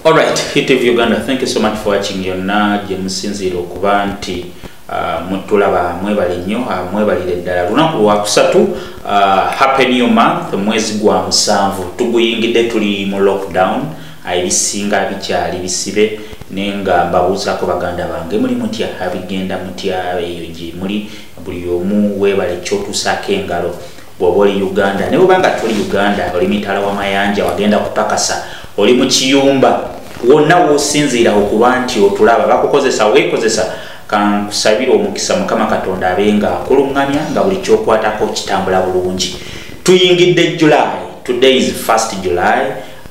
Alright, HitTV Uganda, thank you so much for watching yonna gye musinziira okuba nti uh, mutulaba mwebale nnyo uh, mwebalire ddala lunaku lwakusatu uh, happy new month mwezi gwa musanvu tuguyingidde tuli mu lockdown ebisinga bikyali bisibe naye nga mbabuuzaako baganda bange muli mutya abigenda mutya eyo gye muli buli omu weebale kyotuusaako engalo bwoba oli uganda naye obanga tuli uganda oli mitala wa mayanja wagenda kupakasa oli mu kiyumba wonna wosinziira okuba nti otulaba bakukozesa wekozesa kankusabire omukisa mukama katonda abe nga akuluŋŋamya nga buli kyokwatako kitambula bulungi tuyingidde july today is 1st july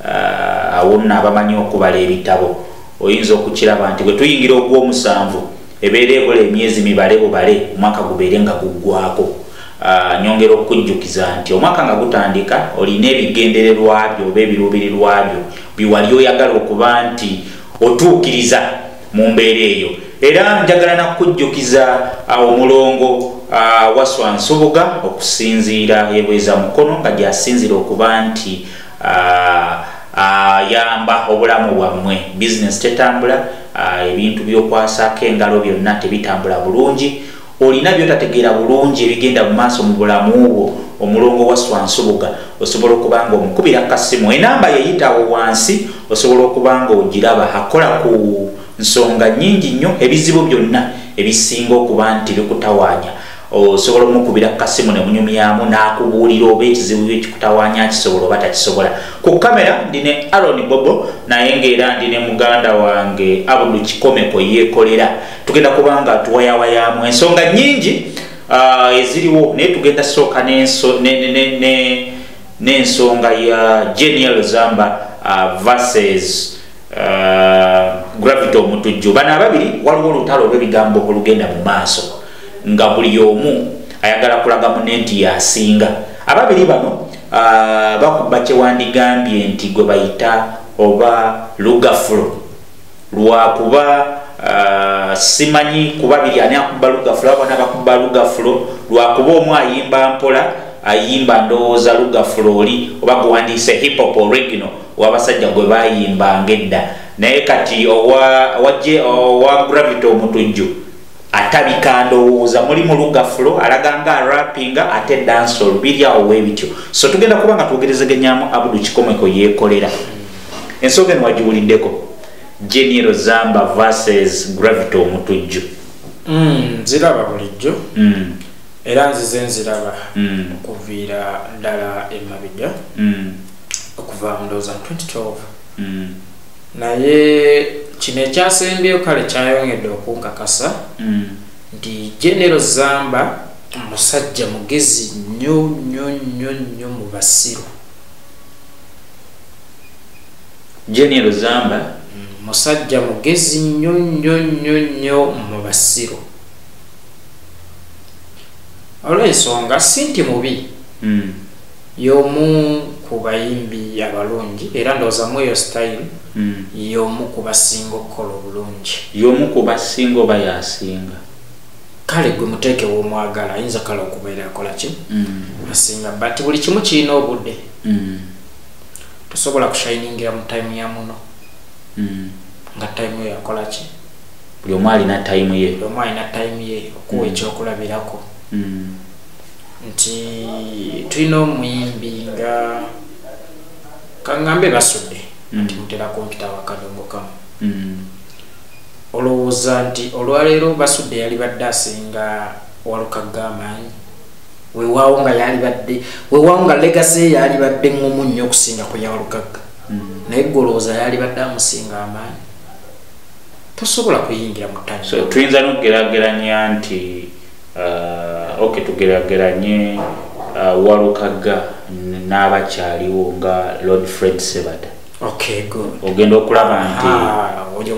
uh, awo nno abamanyi okubala ebitabo oyinza okukiraba nti bwe tuyingira ogw'omusanvu ebeera ebula emyezi mibale bubale omwaka gubeere nga guggwako ah, nyongera okukujjukiza nti omwaka nga gutandika olina ebigendererwa byo oba ebiruubirirwa byo biwali oyagala okuba nti otuukiriza mu mbeera eyo era njagala nakukujjukiza ah, omulongo ah, waswa nsubuga okusinziira ebweza mukono nga gyasinzira okuba nti ayamba ah, ah, obulamu bwammwe bizinesi tetambula ah, ebintu byokwasaako engalo byonna tebitambula bulungi olina byotategeera bulungi ebigenda mu maaso mu bulamu bwo omulongo wa swansubuga osobola okuba nga omukubira kasimu enamba yeyitawo wansi osobola okuba nga ogiraba akola ku nsonga nyingi nnyo ebizibu byonna ebisinga okuba nti bikutawaanya osobola omukubira ku kasimu ne munyumyamu n'akubuulira oba ekizibu byo kikutawaanya akisobola oba takisobola ku kamera ndi ne aron bobo naye ng'era ndi ne muganda wange abudu kikomeko yeekolera tugenda kuba nga tuwayawayamu ensonga nnyingi ah, eziriwo naye tugenda sooka n'ensonga ya genial zamba ah, verses ah, gravity omutujju bano ababiri waliwo olutalo olw'ebigambo olugenda mu maaso nga buli omu ayagala kulaga mune nti yasinga ababiri bano uh, bakuba kyewandigambye nti gwe bayita oba lugafulo lwakuba uh, simanyi kuba biri ani akuba lugafulo abana bakuba lugafulo lwakuba omu ayimba mpola ayimba ndowooza lugafulo oli oba guwandiise hiphop original wabasajja gwe bayimbanga edda naye kati owa gravity omutujju atabika ndowooza mulimu lugafulo alaganga arapinga ate dansol biri awo webityo so tugenda kuba nga twogerezegenyamu abudu kikomeko yekolera ensonga eno wagiwuliddeko geniero zamba versus gravity omutujju mm, ziraba bulijjo mm. era nzize nziraba mm. okuviira ddala emabija mm. okuva mundowooza 2012 mm. naye kino ekyasembyeyo kale kyayongedde okunkakasa mm. nti genero zamba omusajja mugezi nnyo nnyo nnyo nnyo mu basiru genero zamba mm, musajja mugezi nnyo nnyo nnyo nnyo mu basiru olw'ensonga si nti mubi mm. y'omu ku bayimbi abalungi era ndowooza mu eyo sitayiro hmm. y'omu ku basinga okukola obulungi y'omu ku basinga oba yasinga kale gwe muteeke w'omwagala ayinza kale okubeera akola ki hmm. asinga but buli kimu kirina obudde hmm. tosobola kushiningira mu tayimu ya muno nga tayimu yo yakola ki buli omu alina tayimu ye buli omu alina tayimu ye okuwa ekyokulabirako nti tulina omuyimbi nga kaŋŋambe basudde mm. nti mutera kumpita wakadongo kamu mm. olowooza nti olwaleero basudde yali badde asinga walukagga amaanyi wewaawo nga yali badde wewaawo nga legase yali badde ngomu nnyo okusinga ku yawalukagga mm. naye gwe olowooza yali badde amusinga amaanyi tosobola kuyingira mu ttani tuyinza nokugerageranya nti uh, ok tugerageranye uh, walukagga n'abakyaliwo nga lord fred sebata ogenda okulaba nti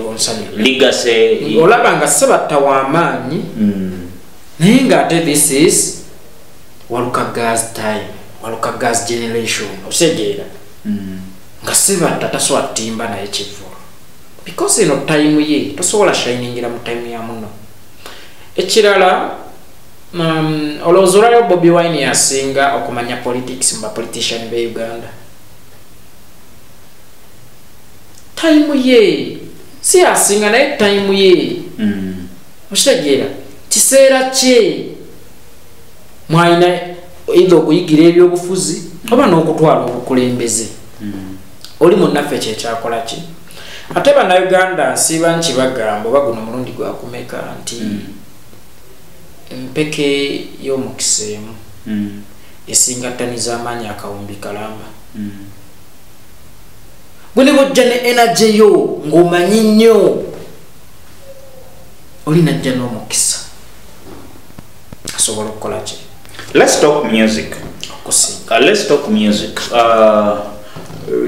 ligasiolaba nga sebatta wamaanyi mm. naye nga ate this is walukaggas time walukaggas generation osegeera mm. nga sebatta tasobola timba naye kivulu because eno time ye tosobola shiningira mu time ya muno ekirala um, olowooza olwaliwo bobi wine yasinga okumanya politics mu bapolitician be uganda tayimu ye si yasinga naye tayimu ye mm. okitegeera kiseera kye mwalina eitha okuyigira ebyobufuzi oba n'okutwala obukulembeze mm. oli munnaffe kyekyakola ki ate banauganda nsiiba nkibagamba oba guno mulundi gwakumeka nti mm. empeke y'omukisa emu mm. esinga ttani z'amaanyi akawumbi kalamba mm. gwe ne bojja ne enage yo ng'omanyi nnyo oli najja n'omukisa asobola okukola ki let's talk music uh, let's talk music uh,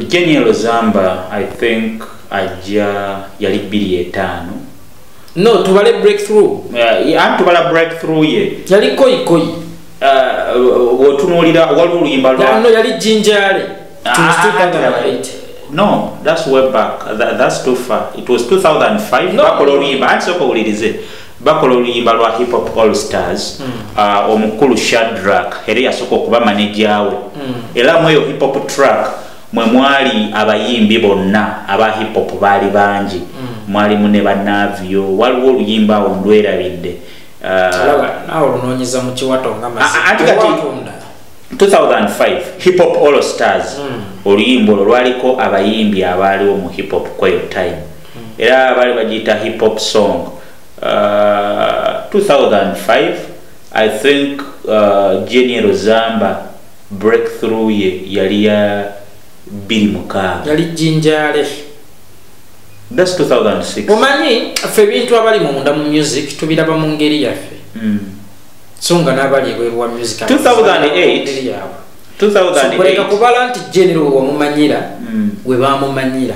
Genial Zamba I think ajja yali bbiri etaano no tubale breakthrough uh, anti tubala breakthrough ye yali koi koi uh, wotunuulira wali oluyimba lwano yali jinjale ah, ah, no that's way back That, that's too far it was 2005 bakola oluyimba anti soka owulirize bakola oluyimba lwa hip hop all stars mm. uh, omukulu shadrak era yasooka okuba maneja we mm. era mu eyo hip hop track mwe mwali abayimbi bonna aba hip hop baali bangi mm. mwalimu ne banavio waliwo oluyimba awo ndwerabidde hiphop all stars mm. oluyimba olwo lwaliko abayimbi abaaliwo mu hiphop kweyo time era baali bagiyita hip hop song uh, 2005 i think uh, geniero zamba breakthrough ye yali ya biri mukaaga yali jinjale that's 2006 omanyi ffe ebintu abali munda mu music tubiraba mu ngeri yaffe mm. so nga n'abali ebweru wa music 2008 2008 kubala nti genero wewamumanyira mm. webamumanyira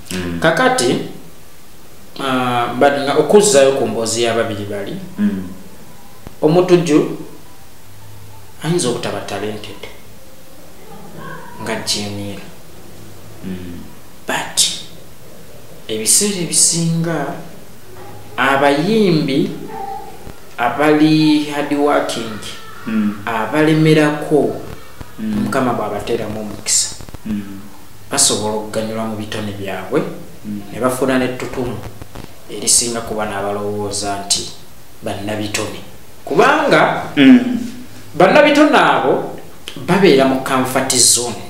mm. kakati uh, but nga okuzzayo ku mboozi y'ababiri bali mm. omutujju ayinza obutaba talented nga jeniira mm. but ebiseera ebisinga abayimbi abali hardworking mm. abalemerako mm. mukama bw'abateeramu omukisa mm. basobola okuganyulwa mu bitone byabwe hmm. ne bafuna n'ettutumu erisinga kuba n'abalowooza nti bannabitone kubanga hmm. bannabitone abo babeera mu kanfati zone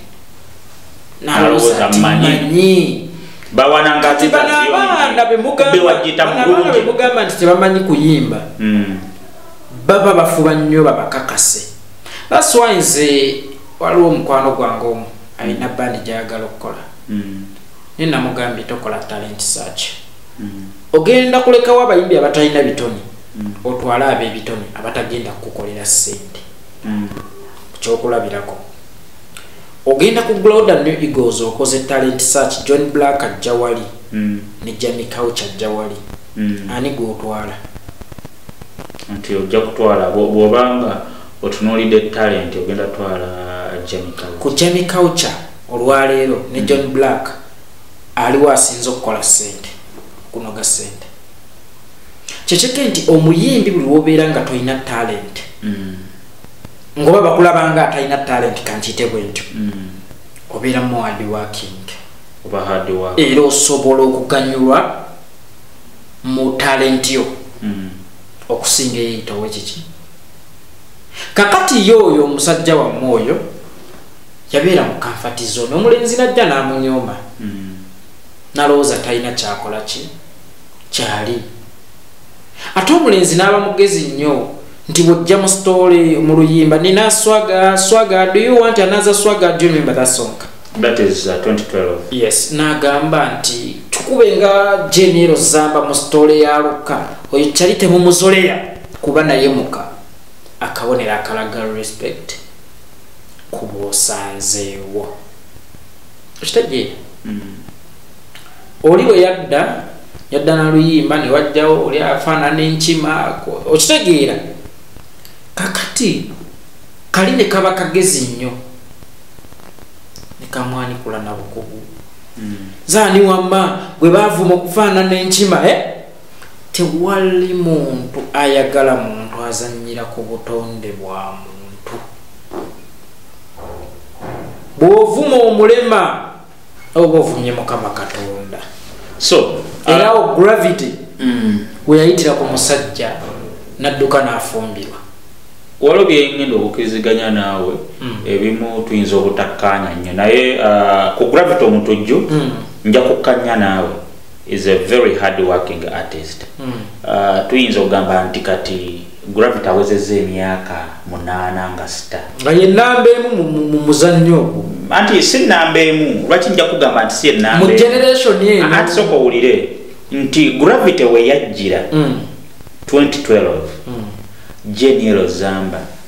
nalowooza nti manyi bawanangabaana bemugamba nti tebamanyi kuyimba hmm. baba bafuba nnyo babakakase that's why nze waliwo omukwano gwange omu alina mm. bandi gyayagala okukola mm. naye namugambye tokola talent search mm. ogenda kulekawo abayimbi abatalina bitone otwale abebitone abatagenda kukukolera sente kyokulabirako ogenda ku gloda new eagles okoze talent search john black ajja wali ne jami couch ajja wali ani gwotwala nti ojja kutwala bwobanga otunuulidde talenti ogenda twala ku jami culture olwaleero ne mm. john black aliwo asinza okukola sente kunoga sente kyekyeka nti omuyimbi buli wobeera nga tolina talent mm. ngoba bakulabanga atalina talent kankite bwe ntyo mm. obeera muwadi waking era osobola okuganyulwa mu talenti yo okusinga eyeyitawo ekiki kakati ye oyo omusajja wamme oyo yabeera mu kanfati zone omulenzi najja n'amunyooma hmm. nalowooza talina kyakola ki kyali ate omulenzi n'aba mugezi nnyo nti bwojja mu sitoole mu luyimba nina swaga swaga do you want another swaga do you remember that song that is uh, 2012 yes n'agamba nti tukube nga jenero zamba mu sitoole ya lukka oyo kyali temumuzoleya kuba naye muka akabonero akalaga respect ku bwosanzeewo okitegeera mm. oli bwe yadda yadda naluyimba ne wajjawo oli afaanana enkima okitegeera kakati kali ne kaba kagezi nnyo ne kamwanikula nabukugu mm. zaani wamma gwe baavuma okufaanana enkima e eh? tewali muntu ayagala muntu azanyira ku butonde bwa muntu bwovuma omulema oba ovumye mukama katonda so era awo uh, gravity mm. weyayitira ku musajja nadduka nafumbirwa waliwo byengenda okukiriziganya naawe mm. ebimu tuyinza obutakkaanya nnyo naye uh, ku gravity omutujju mm. nja kukkanya naawe is a very hard working artist mm. uh, tuyinza okugamba nti kati gravity awezeza emyaka munaana nga sita nga ye namba emu mu muzannyo ogwo anti si namba emu lwaki nja kugamba nti si enambaatisoka owulire nti gravity weyajjira mm. 2012 mm. jeniero zamba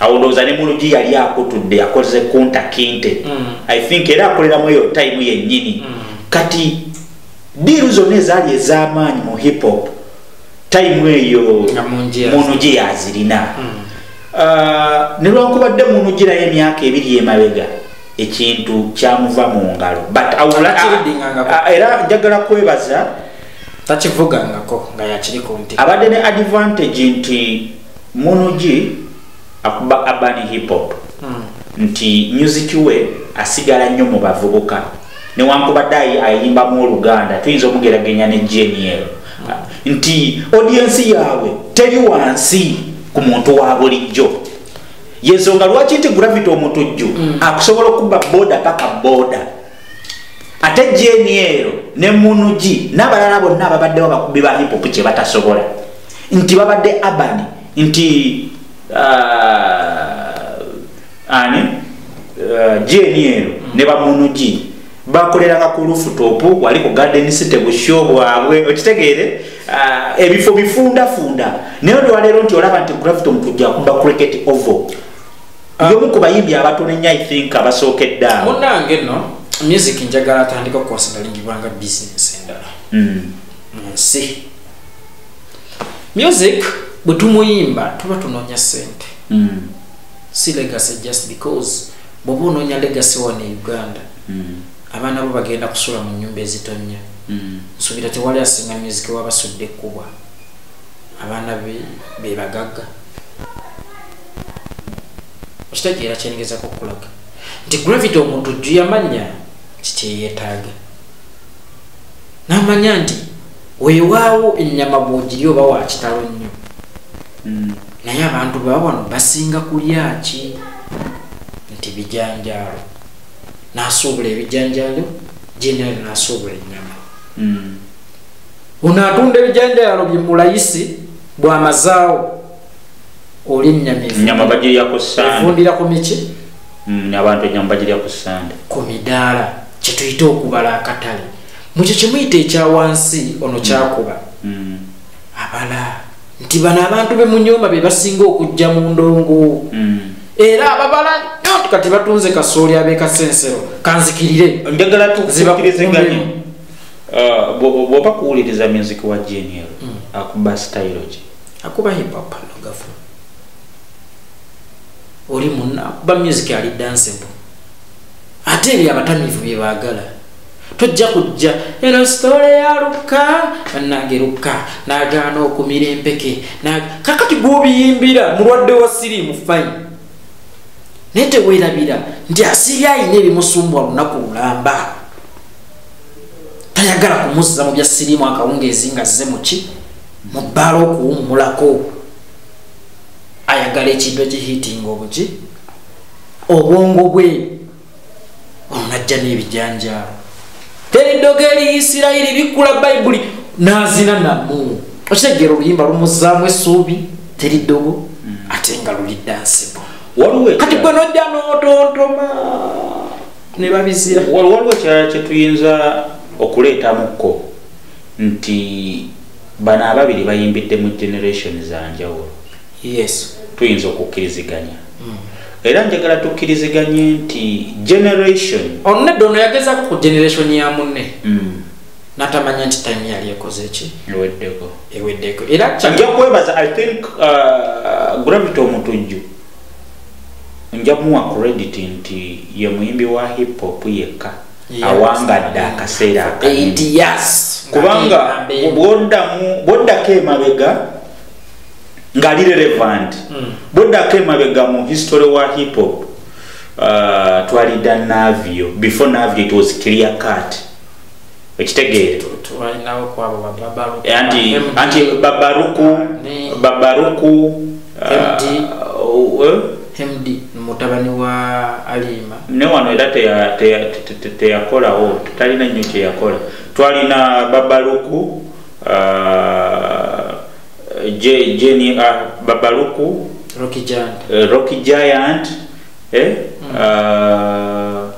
awo ndowooza ne mulugi yali akutudde yakoze kunta kinte mm. i think era akoleramu eyo tayimu yennyini mm. kati diiru zonna ezaali ez'amaanyi mu hip hop tayimu eyo munugi yazirina mm. uh, ne lwankubadde munugi nayo emyaka ebiri emabega ekintu kyamuva mu ngalo uh, era njagala kwebaza takivugangako nga yakiri ku nti abadde ne advantage nti munugi akuba urban hip hop hmm. nti music we asigala nnyo mu bavubuka newankubadde ayimbamu oluganda tuyinza omugeragenya ne geniel hmm. nti odiensi yaabwe teri wansi ku muntu wa bulijjo yensonga lwaki nti gravity omutujju hmm. akusobola okubba boda paka boda ate jeni eyo ne munugi n'abalala bonna ababaddewo abakubi ba hipopu kye batasobola nti babadde abani nti uh, ani uh, jeni eyo ne bamunugi bakoleranga ku lufutopu wali ku garden city busho bwabwe okitegeere uh, ebifo bifundafunda naye olwaleero nti olaba nti gravity omukujja kumba cricket ovo ah. yomu ku bayimbi abatono ennyo i think abasookedde awo munange no music njagala atandika okukonsidalingibwanga bisinesi endala hmm. mu nsi music bwe tumuyimba tuba tunoonya sente hmm. si legacy just because bwoba onoonya legacy wano e uganda hmm. abaana bo bagenda kusula mu nyumba ezitonnya nsubira tewali asinga music wabasudde ekkubwa abaana be bagagga okitegeera kyenigezako okukulaga nti gravity omuntu jju yamanya kikyeyetaaga namanya nti wewaawo ennyama bwogiri oba wakitalo nnyo hmm. naye abantu baba wano basinga kulyaki nti bijanjaalo nasuubula ebijanjaalo general nasuubula ennyama hmm. ono atunda ebijanjaalo bye mulayisi bwamazaawo oli nyama bagirya ku sandevundira ku miki mm, abantu enyama bagirya ku sande ku midaala kyetuyite okubala akatale mukyo kyemuyita ekya wansi ono kyakuba mm. mm. abala nti bano abantu bemunyoma bebasinga okujja mu ndongo era ababala nyo kati batunze kasooli abekasensero kanzikirire njagala tuzibakirizeganye uh, bwoba kuwuliriza music wa genial akuba stylogy akuba hip hop no gafu oli munna akuba music ali danceable ate ebyo abatamivu bye baagala tojja kujja eno sitole ya lukka bannange lukka n'agaana okumira empeke kakati gw'obiyimbira mulwadde wa siriimu fayini naye teweerabira nti asiri ayina ebimusumbwa lunaku lulamba tayagala kumuzza mu bya siriimu akawungeezi nga zze muki mu bbaala okuwummulako ayagala ekintu ekihiitinga obuki obwongo bwe onajja n'ebijanjaalo teri ddoga eri isirayiri bikkula bayibuli n'azina namu okitegeera oluyimba lumuzzaamu essuubi teri ddogo mm. ate nga lulidda nsibo kati gwe nojja n'otontoma ne babizira waliwo ekyala kye tuyinza okuleetamukko nti bano ababiri bayimbidde mu generation zanjawulo yes tuyinza okukkiriziganya mm. era njagala tukkiriziganye nti generation ono nedda ono yagezako ku generation ya munne mm. natamanya nti time yali ekoze ki eweddeko eweddeko era nja kwebaza i think uh, gravity omutujju nja muwa credit nti ye muyimbi wa hip hop yekka awangadde akaseera kubanga bwoddako emabega ngali relevant hmm. bwoddako emabega mu history wa hiphop uh, twalida navio before navio it was clear cut ekitegeere anti babaruku babaruku uh, uh, md mutabani wa aliima ne wano era teyakolawo talina nnyo kyeyakola twalina babaluku uh, jeni uh, babaluku rocky giant, uh, rocky giant eh? mm. uh,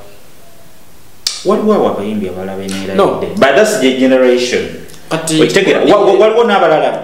waliwo awo abayimbi abalala beneeradde no. but thats the generation okitegera waliwo n'abalala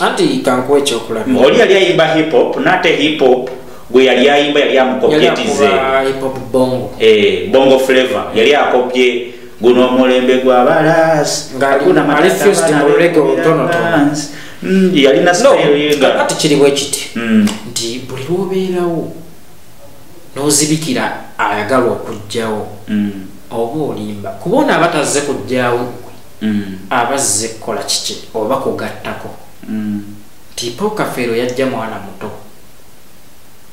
anti kankuwa ekyokulaba oli yali ayimba hip hop nate hip hop gwe yali ayimba yali amukopyetize eh, bongo flavor yali akopye guno omulembe gwa balas mm, yalina kati kiri bwekiti mm. nti buli lwobeerawo nozibikira ayagalwa okugjawo mm. oba olimba kuba ono abatazze kugjawo mm. abazze kukola kiki oba kugattako mm. nti mm. paul kafeero yajja mwana muto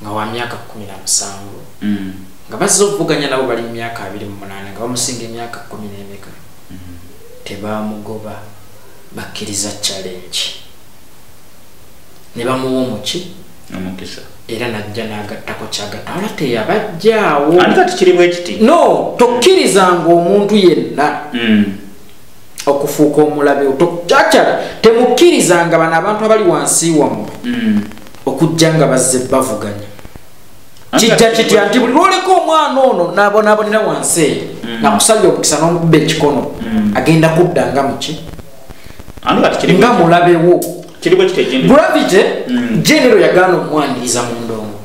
nga wa myaka kumi na musanvu mm. nga bazze okuvuganya nabo bali mu myaka abiri mu munaana nga bamusinga emyaka kumi n'emeka mm. tebamugoba bakkiriza challenge ne bamuwa omuki omukisa era najja n'agattako kyagatta wala teyabajjaawo ani kati kiri bwekiti no tokkirizanga omuntu yenna mm. okufuuka omulabe cacara temukkirizanga bano abantu abali wansi wammwe mm. okujja nga bazze bavuganya kijja kitya nti buli lwoleka omwana ono nabonabonera wansi eyo mm. nakusabya omukisa n'omukuba ekikono agenda kudda nga muki nga mulabewo gravity mm. genero yagaana okumwaniriza mu ndongo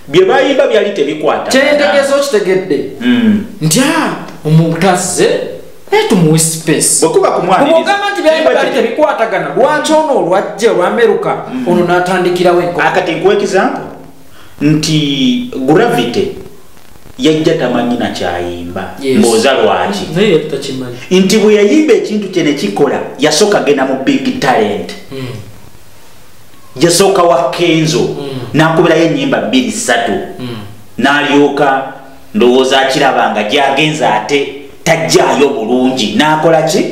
byebayimba byali tebikwata kyentegeeza okitegedde mm. nti ah, omutazze tumuwe spaceomugamba nti byali tebikwatagana lwaki ono olwajja olwameruka mm. ono natandikirawo enkokati nkuwa ekisampo nti gravity yajja tamanyi nakyayimba mboza lwaki nti bwe yayimba ekintu kye nekikola yasooka genda mu big talent hmm. yasooka wa kenzo hmm. nakubirayo enyimba bbiri ssatu hmm. nalyoka ndowooza akiraba nga gyagenza ate tajjaayo bulungi nakola ki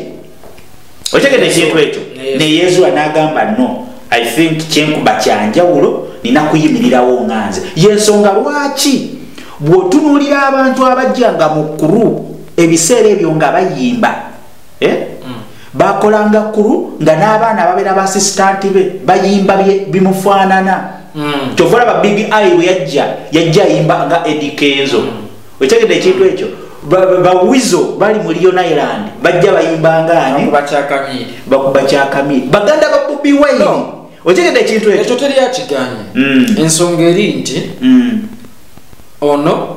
otegede ekintu ekyo neyezuwa nagamba no i think kyenkuba kyanjawulo nina kuyimirirawo nga nze yensonga lwaki bwotunulira abantu abajja nga mukuru ebiseera ebyo nga bayimba eh? mm. bakolanga kuru nga n'abaana babeera baasisitanti be bayimba bimufaanana mm. kyovola ba big i bwe yajja yajja ayimba nga edikenzo mm. okitegedde ekintu ekyo bawizo bali mu leon island bajja bayimbangaanebakuba kyakamiri baganda ba bobi wine okitegedde ekintu ekyo teri akiganye mm. ensonga eri nti mm. ono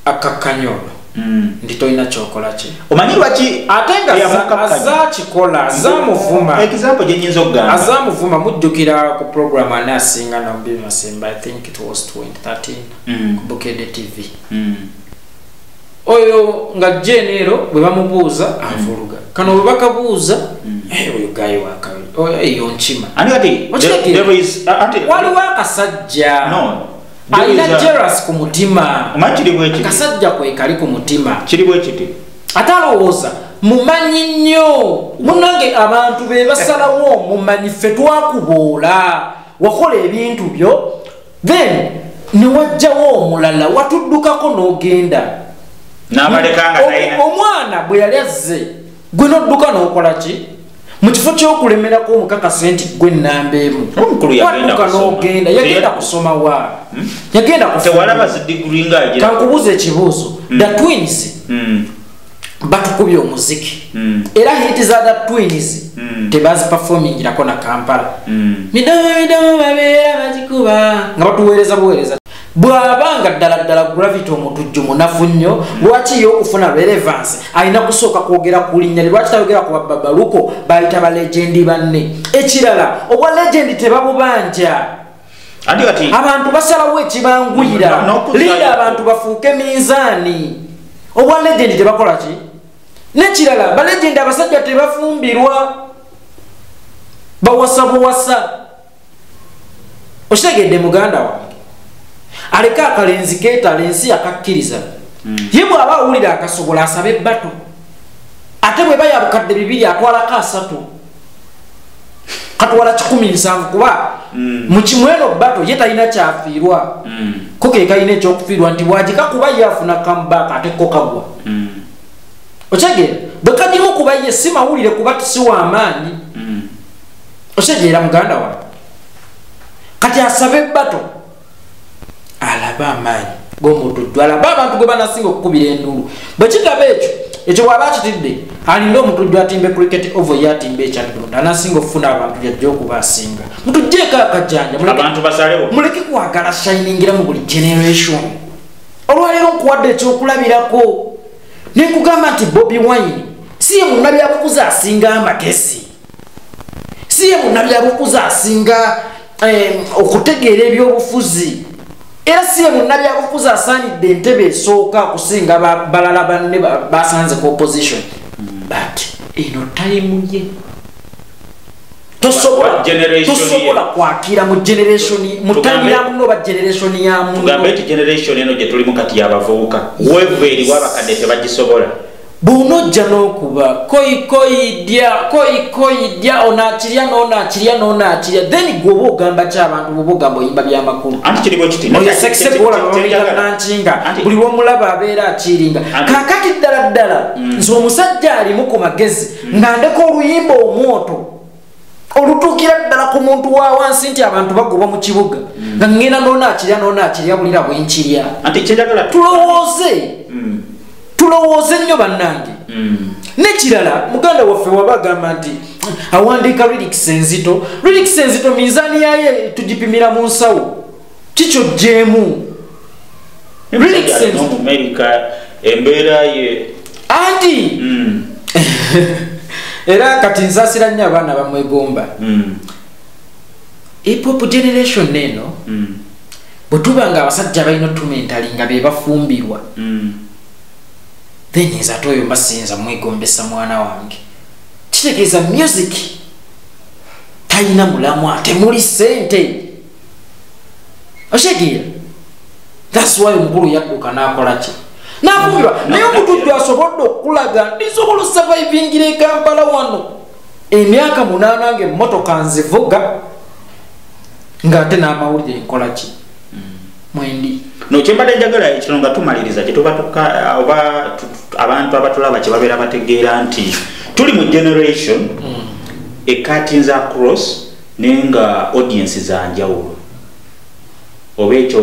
akakkanya ono mm. nti tolina kyokola ki omanyi lwaki ate nga azakikola azamuvuma example gyenyinza okugamba azamuvuma mujjukira ku programu anaasinga nabbi masemba i think it was 2013 mm. ku bukede tv mm. oyo nga jeneero bwe bamubuuza mm. avuluga kano bwe bakabuuza mm. eh, oyo gayi wakabi eyo oh, nkima waliwo akasajja alina jeras ku mutima akasajja kwe kali ku mutima kiri bwe kiti ate alowooza mumanyi nnyo munange abantu be basalawo mumanyi ffe twakuboola wakola ebintu byo then newajjawo omulala watuddukako n'ogenda omwana bwe yali azze gwe nodduka n'okola ki mu kifo ky'okulemerako omukakase nti gwe nnamba emu wadduka n'ogenda yagenda kusoma wa hmm? yagenda kukankubuuza ekibuuzo hmm. the twins hmm. batukubye omuziki mm. era hit za the twins mm. tebaziperformingirako na kampala mm. midomo midomo babeera bagikuba nga batuweereza buweereza bw'aba nga ddala ddala gravity omutujju munafu nnyo lwaki ye okufuna relevance alina kusooka kwogera ku linnya lye lwaki tayogera ku bababaluko bayita balegendi banne ekirala obwa legendi tebabubanja abantu basalawo ekibanguyira linda abantu bafuuke minzaani obwa legendi tebakola ki nekirala balegendi abasajja tebafumbirwa bawasa buwasa okitegedde muganda wange aleke akalenzi keetala ensi yakakkiriza hmm. ye bw'aba awulira akasobola asabe ebbatu ate bwe bayabukadde bibiri atwalako asatu katwala kikumi nsanvu kuba mm. mukimweno bato ye talina kyafiirwa mm. ko kekalina ekyokufiirwa nti bwagika kuba ye afuna comeback ate ko kagwa mm. okitegeera bwe kagimu kuba ye si mawulire kuba si wa maanyi okitegeera muganda wa kati asabe bato alaba amaanyi gomutujju alaba abantu gwe banasinga okukubira enduulu bwe kitaba ekyo ekyo bwaba akitidde alina omutujju atimba ecriket ovo ye atimba ekyadonda anasinga okufuna abantu yajja okuba asinga mutujjeeko akajanja muleke kwagala shiningira mu buli generation olwaleero nkuwadde ekyokulabirako nekugamba nti bobi wine si ye munabyakukuza asinga amagezi si ye munnabyabufuzi asinga okutegeera ebyobufuzi era si ye munnabyabufuzi asaanidde entebe esooka okusinga balala banne basanze ku opposition hmm. but eno tayimu ye tosobola kwakira mu generation mutanira muno ba generation ya muno tugambe ti generation eno gye tulimu kati yabavubuka wevu eri wabakadde tebagisobola bw'onojja n'okuba koyikoyidya koyikoyidya onaakirya n'onaakirya n'onaakirya then gwe oba ogamba ki abantu bwoba ogamba oyimba byamakulu oyosekisebwolaankinga buli lwomulaba abeera akiringa kakati ddala ddala mm. nze omusajja alimu ku magezi mm. nga ndeka oluyimba omwoto olutuukira ddala ku muntu wa wansi nti abantu bagoba mu kibuga mm. nga ŋŋenda noona akirya noona akirya bulira bwe nkirya tulowooze mm. tulowooze nnyo bannange mm. nekirala muganda waffe waba agamba nti awandiika rilikisi enzito rilikisi enzito minzaani yaye tugipimira mu nsawo kikyo jemu embeera ye anti hmm. era kati nsasira nnyo abaana bamwegomba hmm. epop generation eno hmm. bwe tuba nga abasajja balina otumentali nga be bafumbirwa then nze ate oyo mbasinza mwegombesa mwana wange kitegeeza music talina mulamwa temuli sente osegeera thats why omukulu yadduka nakola ki nakumirwa naye omutujju asobodde okukulaga ndisobola osavivingira ekampala wano emyaka munaana nga emmotoka nzivuga ngaate n'amawulire nkola ki mwendi nokyembadde njagala kino nga tumaliriza kyetubatuka oba abantu abatulaba kyebabeera bategeera nti tuli mu generation mm. ekatinza cross naye nga audience zanjawulo oba ekyo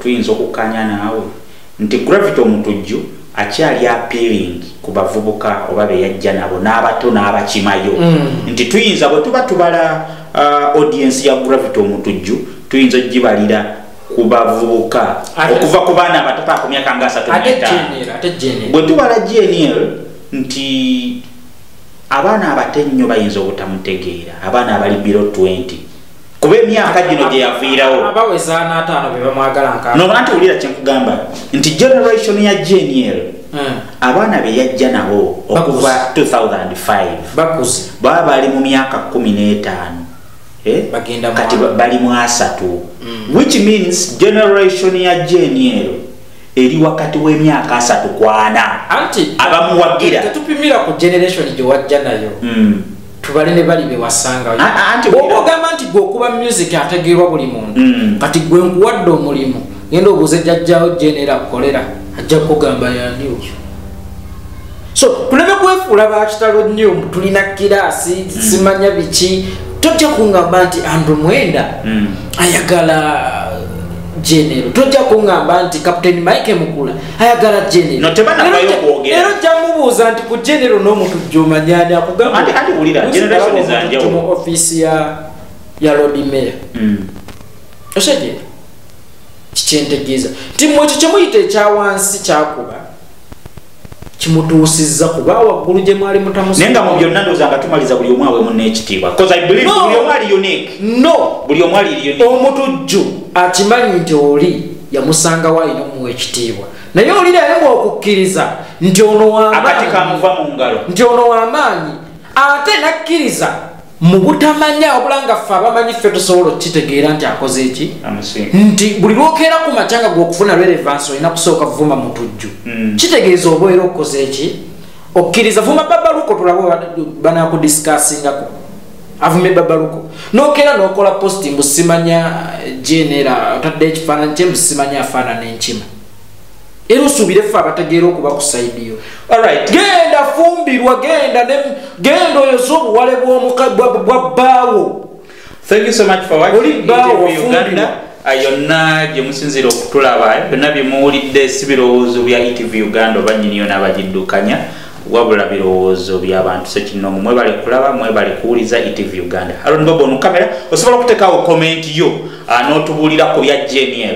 tuyinza okukkanya naawe nti gravity omutujju akyali appealing ku bavubuka oba beyajja nabo n'abato n'abakimayo mm. nti tuyinza bwe tuba tubala uh, audience ya gravity omutujju tuyinza ogibalira ku bavubuka okuva ku baana abatataku myaka nga asatu bwe tubala gnl nti abaana abate nnyo bayinza obutamutegeera abaana abali biro 20 kuba emyaka gino gye yaviirawonobanti wulira kyenkugamba nti generation ya gnl hmm. abaana be yajja nabo okuva 2005 baba bali mu myaka 15 eh? kati bali mu asatu hmm. which means generation ya gnl eri wakati w'emyaka asatu kwana anti abamuwagira tetupimira ku generation gye wajja nayo hmm. tubale ne bali bewasanga ogamba nti gwe okuba music ategeerwa buli muntu hmm. kati gwe nkuwadde omulimu genda obuze jajjawo genera kolera ajja kugamba yandiwo so kuleme kwefuula bakitalo nnyo tulina kiraasi mm. simanya biki tojja kungamba nti andrew mwenda mm. ayagala genero tojja kungamba nti captain mike mukula ayagala generoero ojja mubuuza nti ku genero n'omuntu jomanyani akugambamu offiisi ya ya lodi mayor mm. osegera kikyentegeeza nti mwekyo kyemuyita ekyawansi kyakuba kimutuusizza kuba waggulu gye mwali mutamunaye nga mu byonna ndooza nga tumaliza buli omwawe munaekitiibwa buli omwali unique no buli omwali unique omutujju akimanyi nti oli yamusangawo alina omuwa ekitiibwa naye oli naye bwokukkiriza nti ono wamaanyi nti ono wamaanyi ate nakkiriza mu butamanya wabula nga ffe abamanyi ffe tusobola okukitegeera nti akoze eki nti buli lwokeera ku makya nga gwokufuna relevansi olina kusooka vuma mutujju mm. kitegeeza obaera okukoza eki okkiriza vuma babaluko tulabo banakudisikaasingako avume babaluko nokeera nokola posti mbusimanya eh, genera otadde ekifaananyi kye mbusimanya afaanana enkima era osuubire ffe abategeera okuba ku saidi yo alright genda fumbirwa genda ne genda oyo zobuwale bwa bbaawo thank you so much for watching oli bbaawo wafumbirwa yonna gye musinziira okutulaba byonna bye muwulidde si birowoozo bya etv uganda oba nyini yona abagiddukanya wabula birowoozo byabantu sekinoomu mwebale kulaba mwebale kuwuliza etv uganda alonbobo onukamera osobola okutekawo komenti yo ah, n'otubuulira ku bya jeniel